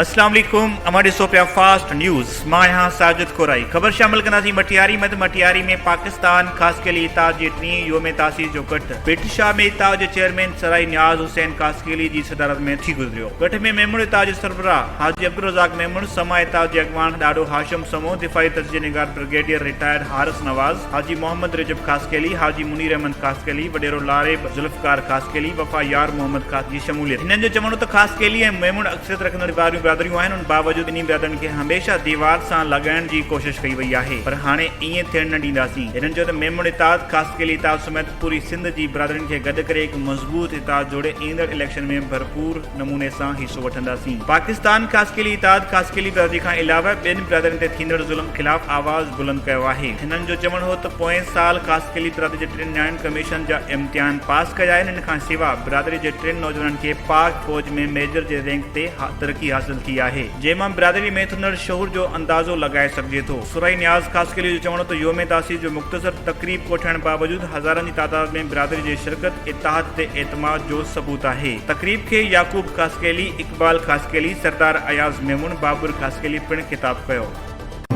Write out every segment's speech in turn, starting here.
اسلام عليڪم اوهان ڏسو پيا فاسٽ نيوز مان آهيان ساجد کورائي خبر شامل ڪنداسين مٺياري مد مٺياري ۾ پاڪستان خاصخيلي اتحاد جي ٽين يوم تاسيس جو ڪٽ پيٽ شاهه ۾ اتحاد جي چيئرمين سرائي نياز حسين خاصخيلي جي صدارت ۾ ٿي گذري ويو. ڳٺ ۾ ميمڻ اتحاد جي سربراهه حاجي عبدالرزاق ميمڻ، سماء اتحاد جي اڳواڻ ڏاڏو هاشم سمون، دفاعي تجزيي نگار برگيڊيئر رٽائرڊ حارث نواز، حاجي محمد رجب خاصخيلي، حاجي منير احمد خاصخيلي، وڏيرو لاريب ذوالفقار خاصخيلي، وفا يار محمد خاص جي شموليت. هنن جو چوڻ هو ته خاصخيلي ۽ ميمڻ اڪثريت رکندڙ واريون برادريون آهن، ان باوجود ٻنهي برادرين کي هميشه ديوار سان لڳائڻ جي ڪوشش ڪئي وئي آهي، پر هاڻي ائين ٿيڻ نه ڏينداسين. هنن چيو ته ميمڻ اتحاد، خاصخيلي اتحاد سميت، پوري سنڌ جي برادرين کي گڏ ڪري هڪ مضبوط اتحاد جوڙي ايندڙ اليڪشن ۾ ڀرپور نموني سان حصو وٺنداسين. پاڪستان خاصخيلي اتحاد خاصخيلي برادري کان علاوه ٻين برادرين تي ٿيندڙ ظلم خلاف آواز بلند ڪيو آهي. هنن جو چوڻ هو ته پوئين سال خاصخيلي برادري جي ٽن نياڻين ڪميشن جا امتحان پاس ڪيا آهن ان کان سوا برادري جي ٽن نوجوانن کي پاڪ فوج ۾ ميجر جي رينڪ تي ترقي حاصل ٿي آهي جنهن مان برادري ۾ ٿندڙ شعور جو اندازو لڳائي سگهجي ٿو. ثرائي نياز خاصخيلي جو چوڻ هو ته يوم تاسيس جو مختصر تقريب ڪوٺائڻ باوجود هزارن جي تعداد ۾ برادري جي شرڪت اتحاد تي اعتماد جو ثبوت آهي. تقريب کي يعقوب خاصخيلي، اقبال خاصخيلي، سردار اياز ميمڻ، بابر خاصخيلي پڻ خطاب ڪيو.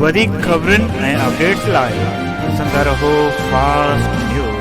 وڌيڪ خبرن ۽ اپڊيٽس لاء ڏسندا رهو فاسٽ نيوز.